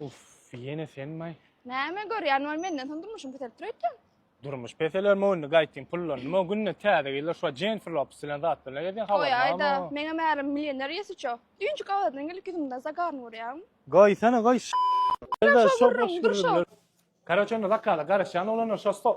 Uff, ýene senmaý? Näme görýän ol menden soň durmuşyň peselip dur öýtýän. Durmuş peseler möwni gaýtyn pullan. Nima günde täze gyzlar şo Jennifer Lopes bilen zat bilen gezýän habaryň barmy? Goýaýda, meňem ärim milýoner ýesiço. Düýnjik awadan gelip ýüzümden zagany görýäň. Goýsana goý ş. Dur şo gürrüň, dur şo. Karoç onda zakala garaşýan oglanlar şo stol.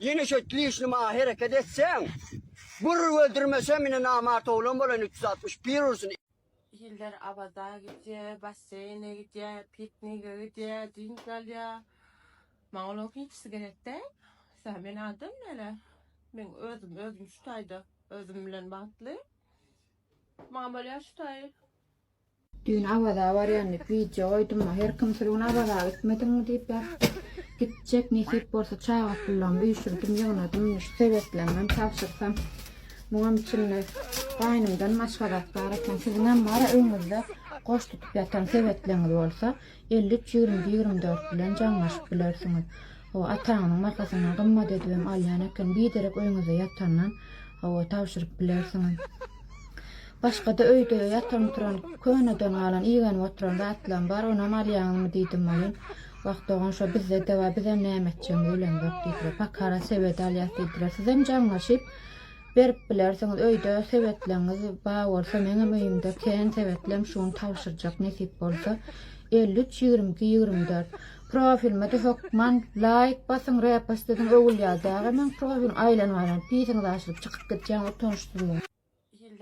Ýene şeýt dişli maňa hereket etseň, bir öldürmesem ine namart oglan bolaýyn üç ýüz altmyş bir ursun. Iller Awaza gidýär, basseýne gidýär, piknige gidýär, dynç alýar. Maňa olaryň hiçsi gerek däl. Sen men adam näle? Men özüm, özüm şu taýda özüm bilen bagtly. Maňa bolýar şu taý. Düýn Awaza barýan diýip wideo goýdum-a, her kim şol gün Awaza gitmediňmi diýip ýazypdyr. Gitjek, nesip bolsa çaga pullarymy üýşürdim, ýygnadym, şu sebetlerimi hem tabşyrsam. Muňam içinde gaýnymdan başga zat bar eken. Siziňem bar-a öýňüzde goş tutup ýatan sebetleňiz bolsa, Elli üç ýigrimi ýigrimi dört bilen jaňlaşyp bilersiňiz. Hawa, ataňyzyň makasyndan gymmat edibem alýan eken. Biderek öýüňizde ýatandan, hawa, tabşyryp bilersiňiz. Başga-da öýde ýatan-turan, köneden galan, igenip oturan zatlam bar, onam alýaňyzmy diýdim welin, Wah, dogan, şo bizde-de bar, bizem näme etjegimizi bilemzok diýdiler. Pakara sebedi alýas diýdiler. Sizem jaňlaşyp, Berip bilersiňiz öýde sebetleňiz bar bolsa meňem öýümde kän sebetlem şu gün tabşyrjak nesip bolsa elli üç ýigrimi iki ýigrimi dört profilimede hökman laýk basyň repost ediň öwülýär däge meň profilim aýlanyp aýlanyp pisiňiz açylyp çykyp gitýäň utanyşdyryp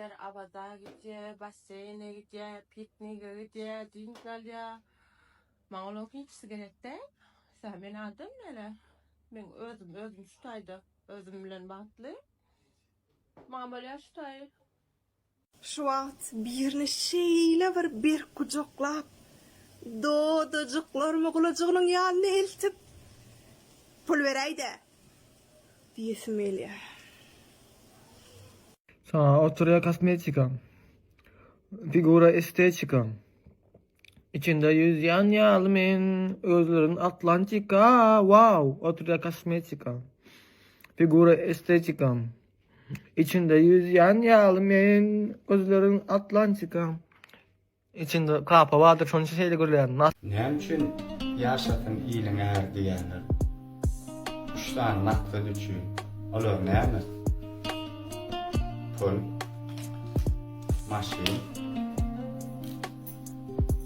Iller abada gidýär, basseyne gidýär, piknige gidýär, dynç alýar. Maňa olaryň hiçsi gerek däl. Sen men adam mele. Men özüm özüm şu taýda Özüm bilen bagtly. Maňa bolýar şu taýy. Şu wagt birini şeýle bir berk gujaklap, dodajyklarymy gulajygynyň ýanyna eltip, Pul beräý-dä! diýesim gelýär. Saňa oturýar kosmetikam. Figura estetikam. Içinde ýüzýän ýaly men özlerin Atlantika wow oturýa kosmetika figura estetika içinde ýüzýän ýaly men özlerin Atlantika içinde kapa bardyr şonuň üçin şeýle gürleýän Näme üçin ýaşasyn iliň äri diýýänler? Üç sany maksat üçin. Olar näme? Pul, maşyn,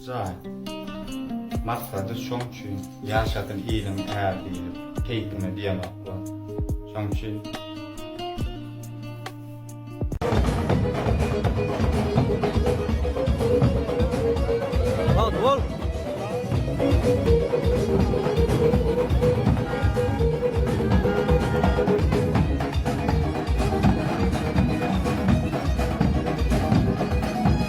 Jaý. Maksady şoň üçin ýaşasyn iliň är diýlip keýpime diýemok bu. Şoň üçin.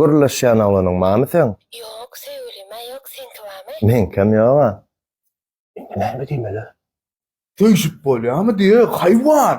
Gürleşýän oglanyň bamy seň? Ýok söýgülim-ä ýok seňki bamy? Meňkem ýoga. Indi näme diýmeli? Söýşüp bolýamy diýe haýwan.